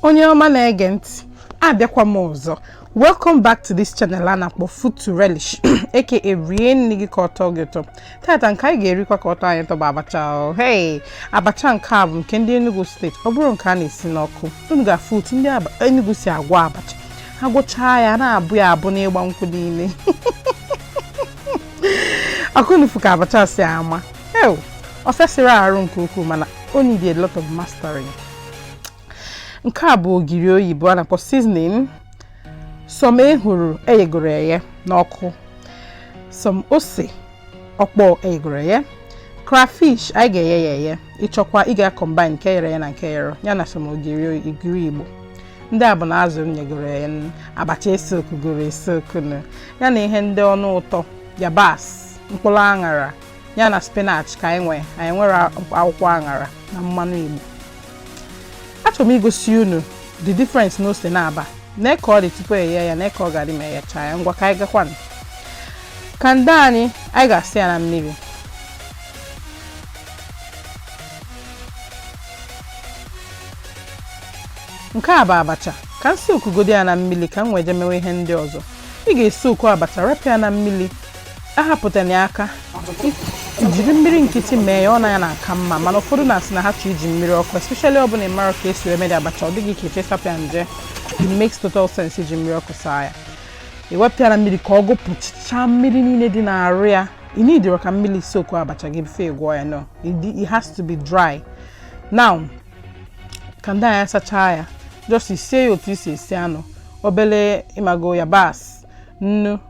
onye ọma na-ege ntị abịakwa m ọzọ welcome back to this channel a na-akpọ food to relish aka rie nni gị ka ọ tọọ gị ụtọ tata nke anyị ga-erikwa ka ọ tọọ anyị ụtọ bụ abacha hei abacha nke a bụ nke ndị Enugu steeti ọ bụrọ nke a na-esi n'ọkụ unu ga-afụ otu ndị Enugu si agwọ abacha a gwọchaa ya na-abụ ya abụ n'ịgba nkwụ niile ọkwa unu fụ ka abacha si ama ew ọ fịasịrọ arụ nke ukwuu mana o need a lot of mastering nke a bụ ogiri oyibo a na-akpọ seasoning some ehuru eyegoro eye n'ọkụ some ose ọkpọ eyegoro eye crayfish anyị ga-eye ya eye ị chọkwaa ị ga-akọmbine nke eyere ya na nke eyerọ ya na some ogiri igbo ndị a bụ na azụ m yegoro eye abacha esokugoro esoku ya na ihe ndị ọnụ ụtọ yabasị mkpụrụ aṅara ya na spinach ka anyị nwee anyị enwerọ akwụkwọ aṅara na mmanụ igbo achọrọ m igosi unu the difference na ose na-aba nee ka ọ dị tupu eghe ya nee ka ọ ga-adị ma eghecha ya ngwa ka anyị gakwanụ kanda anyị anyị ga-asa ya na mmiri nke a bụ abacha ka m sokugodi ya na mmiri ka m wee je mewe ihe ndị ọzọ ị ga-esoku abacha rapụ ya na mmiri ahapụtana ya aka jiri mmiri nkịtị mee ya ọ na ya na-aka mma mana ụfọdụ na-asị na ha chọrọ iji mmiri ọkụ especially ọ bụrụ na ị marọ ka esi emedi abacha ọ dị gị ka ị chọ isapịa nje it makes total sense iji mmiri ọkụ saa ya i wepịa ya na mmiri ka ọ gụpụchaa mmiri niile dị n'arụ ya ị needirọ ka mmiri soku abacha gị before ị gwọọ ya no it has to be dry now kanda anyị a sachaa ya just sie ya otu i si esi anụ obele ịmago yabasị nnu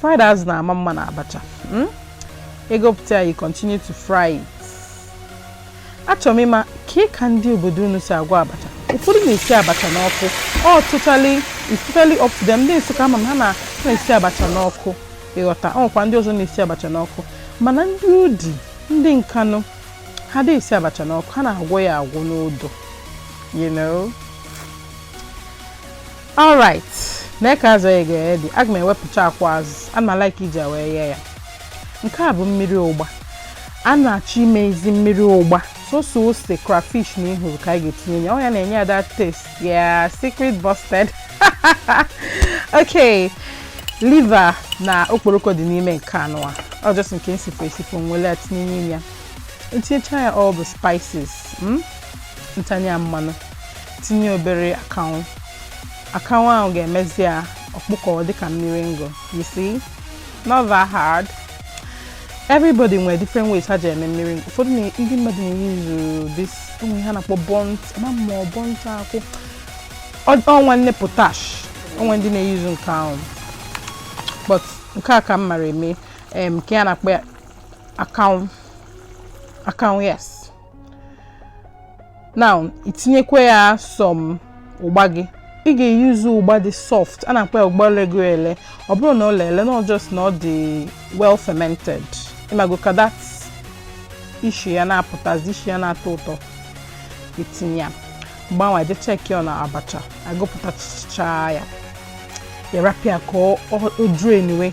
Fried azụ na-ama mma na abacha. Hmm? Egopụta ya, you continue to fry it. Achọrọ m ịma ka ị ka ndị obodo unu si agwọ abacha. Ụfọdụ na-esi abacha n'ọkụ. It's totally up to them. Ndị Nsụka ama m ha na- na-esi abacha n'ọkụ. Ịghọta, ọ nwekwa ndị ọzọ na-esi abacha n'ọkụ. Mana ndị Udi, ndị Nkanụ, ha adịghị esi abacha n'ọkụ. Ha na-agwọ ya agwọ n'odo. You know? all right nee ka azụ ya ga-adị aga m ewepụcha akwa azụ ana m alike iji ya wee ghee ya nke a bụ mmiri ụgba a na-achọ ime ezi mmiri ụgba sọsọ ose crayfish na ehuru ka anyị ga-etinye ya ọ ya na-enye ya that taste yeah secret busted okay liver na okporoko dị n'ime nke anụwa ọ just nke m sifọ esifọ m were ya tinye n'ime ya ntinyecha ya all the spices mm? ntanye ya mmanụ tinye obere akanwụ akanwụ ahụ ga-emezi ya ọ kpụkọọ dịka mmiri ngụ you see not that hard everybody nwere different ways ha ji eme mmiri ngụ ụfọdụ na- ndị mmadụ na-eyuzu this ụmụ ihe a na-akpọ burnt ma ọ bụ burnt akwụ Ọ- ọ nwanne potash o nwe ndị na-eyuzu nke ahụ but nke a ka m mara eme em, nke a na-akpọ ya akanwụ akanwụ yes now itinyekwa ya some ụgba gị ị ga-eyuzu ụgba dị soft a na-akpọ ya ụgba lego ele ọ bụrọ na o lele na just na ọ dị well fermented ịmago ka that ishi ya na-apụtazi ishi ya na-atọ ụtọ itinye ya mgbe ahụ wee je check on abacha agụpụtacha ya arapụ ya ka ọ drain wee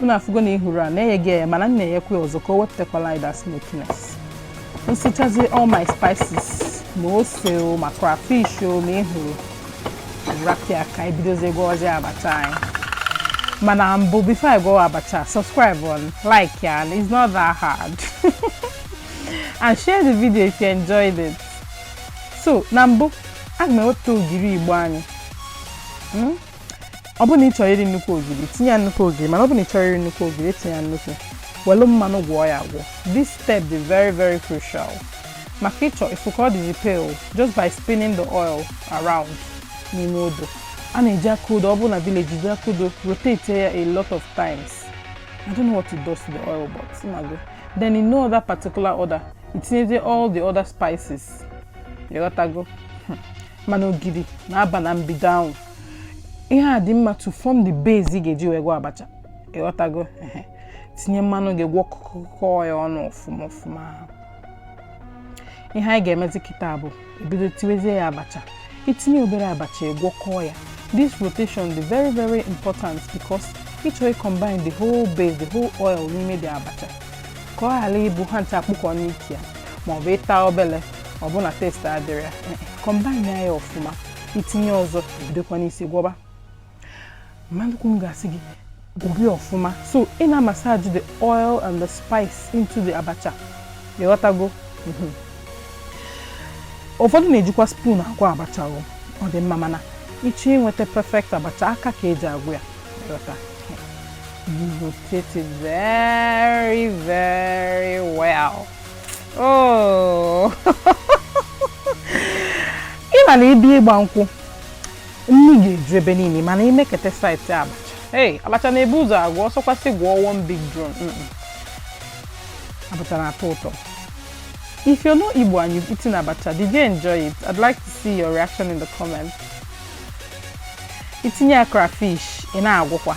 unu afụgo na ihuru a na eyego ya mana m na-eyekwa ya ọzọ ka o wepụtakwala anyị that smokiness nsichazi all my spices ma ose o ma crayfish o ma ihuru rapụ ya ka anyị bidozie gwawazi abacha anyị mana mbụ before anyị gwawa abacha subscribe on like ya and it's not that hard and share the video if you enjoyed it so na mbụ aga m ewepụta ogiri igbo anyị ọ bụrụ na ị chọrọ iri nnukwu ogiri tinye ya nnukwu ogiri mana ọ bụrụ na ị chọrọ iri nnukwu ogiri etinyena nnukwu welu mmanụ gwọọ ya agwọ this step dị very very crucial maka ịchọ ịfụ ka ọ dịzi pale just by spinning the oil around n'ime odo a na-eji aka odo ọ bụrụ na village eji aka odo rotate ya a lot of times I don't know what it does to the oil but ịmago then in no other particular order itinyezie all the other spices ịghọtago mana ogiri na-aba na mbido ahụ ihe a dị mma to form the base ị ga-eji wee gwọ abacha ịghọtago tinye mmanụ gị gwọkọọ ya ọnụ ọfụma ọfụma ihe anyị ga-emezi kịta bụ ibido tiwezie ya abacha itinye obere abacha ịgwọkọọ ya this rotation dị very very important because ịchọ combine the whole base the whole oil n'ime the abacha ka ọ ghara ịbụ ha ncha akpụkọọ n'ike ya maọbụ ịta obele ọ bụ na taste adịrọ ya combine ya ọfụma itinye ọzọ bidokwa n'isi gwọba mama ukwu m ga-asị gị gwọbi ọfụma so ị na massage the oil and the spice into the abacha ịghọtago mhm. ụfọdụ na-ejikwa spoon agwọ abacha ọ dị mma mana ịchọ inweta perfect abacha aka ka eji agwọ ya ịghọta you rotate it very very well oh. ị ma na ịbịa ịgba nkwụ nni ga-eju ebe niile mana imekete sight abacha ee abacha na-ebu ụzọ agwụ ọ sọkwa sị gwọọ one big drum abacha na-atọ ụtọ If you're not Igbo and you've eaten abacha, did you enjoy it? I'd like to see your reaction in the comments. Itinye crayfish ị na-agwọkwa.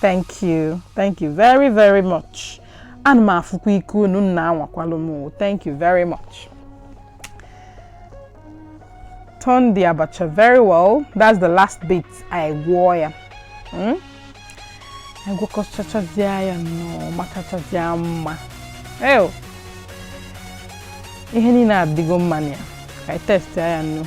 thank you thank you very very much ana m afụkwa ike unu nna anwakwalụ m thank you very much turn the abacha very well that's the last bit i gwọọ ya hmm? i gwọkọchachazie ya nnọọ makachazie mma ew ihe niile adịgo mma na ya ka anyị taste ya nnu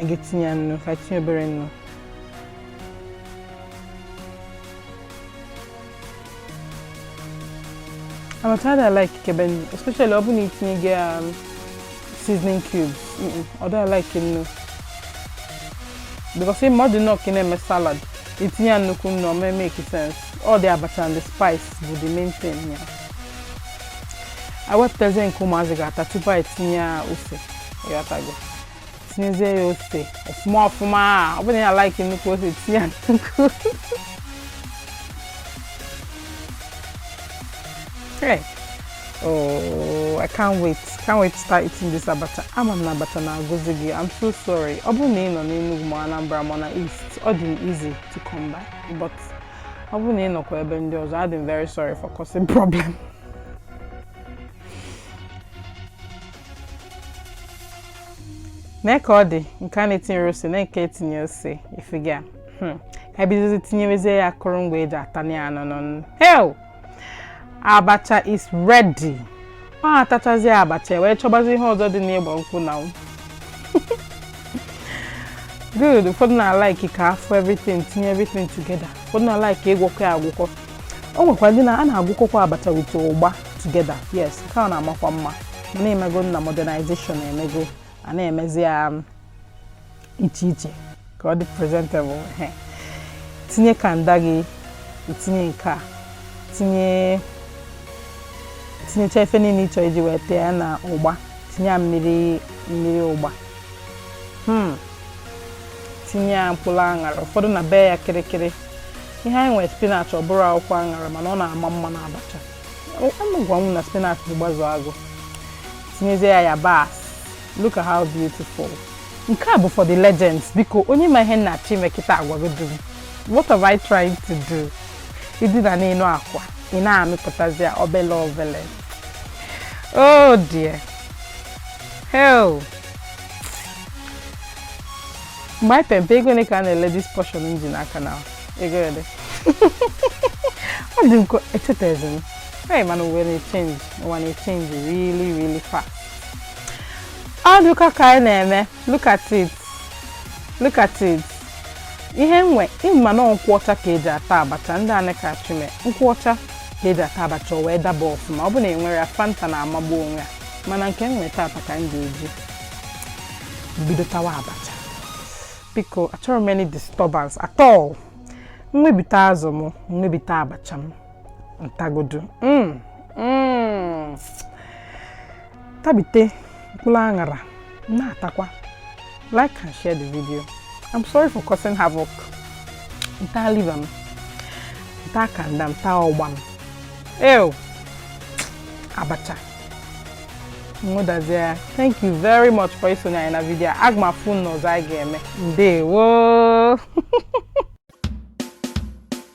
a ga-etinye ya nnu ka tinye obere nnu I'm tired of like keben, especially ọ bụ na itinyego um, seasoning cubes. Ọ dịghị like nnu. Because ịma ọ dị nnọọ ka ị na-eme salad, itinye nnukwu nnu ọ ma make sense. Ọ dị abacha and the spice bụ the main thing ya. Yeah. i wepụtazie nke ụmụazị ga-ata tupu anyị tinye ya ose ịghọtago tinyezie ya ose ọfụma ọfụma ọ bụrụ na ị na-alaiki nnukwu ose tinye ya nnukwu hey. oh i can't wait can't wait to start eating this abacha ama m na abacha na-agụzi gị i'm so sorry ọ bụrụ na ị nọ n'Enugu ma Anambra ma na east ọ dị m easy to come by but ọ bụrụ na ị nọkwa ebe ndị ọzọ adị m very sorry for causing problem nee ka ọ dị nke a na-etinyerọ ose na nke etinye ose ị fụga hmm. ka ebidozi tinyewezie ya akụrụngwa eji atanye ya n'ọnụ hel abacha is ready o a tachazi abacha wee chọbazi ihe ọzọ dị n'ịgba nkwụ na good ụfọdụ na-alaiki ka a fụ everything tinye everything together ụfọdụ na-alaiki ịgwọkọ ya agwọkọ o nwekwa ndị na a na-agwọkọkwa abacha with ụgba together yes nke a na-amakwa mma mana ị mago na modernization emego a na-emezi ya um, iche iche ka ọ dị presentable tinye kanda gị itinye nke a tinye tinyecha ife niile ịchọ iji wee taa ya na ụgba tinye ya mmiri mmiri ụgba hmm. tinye ya mkpụrụ aṅara ụfọdụ na-ebe ya kịrịkịrị ihe anyị nwere spinach ọ bụrọ akwụkwọ aṅara mana ọ na-ama mma na abacha gwa m na spinach bụ gbazụ agụ tinyezie ya yabasị Look at how beautiful. Nke a bụ for the legends biko onye ma ihe m na-achọ ime kịta agwagodu m. What have I tried to do? Idina n'elu akwa, ị na-amịpụtazi ya obele obele. Oh dear. Hell. Mgbe anyị pempe ego ole ka a na-ele this portion m ji n'aka na ego ole? Ọ dị m ka echetazi m. Hey, man, we're gonna change. We're gonna change really, really fast. ọ dịkọ ka anyị na-eme look at it look at it ihe nwe ịma na nkwụ ọcha ka eji ata abacha ndị Aneke Achime nkwụ ọcha ka eji ata abacha o wee daba ọfụma ọ bụ na enwere ya fanta na-amagbu onwe ya mana nke m nweta taa ka m ga-eji bido tawa abacha biko achọrọ m any disturbance at all m webite azụ m m webite abacha m m tagodu mm, mm. tabite mkpụrụ aṅara na-atakwa like and share the video i'm sorry for causing havoc m taa liver m m taa kanda m taa ụgba m ew abacha nwụdazie thank you very much for isonye anyị na vidio a aga m afụ unu n'ọzọ anyị ga-eme ndewo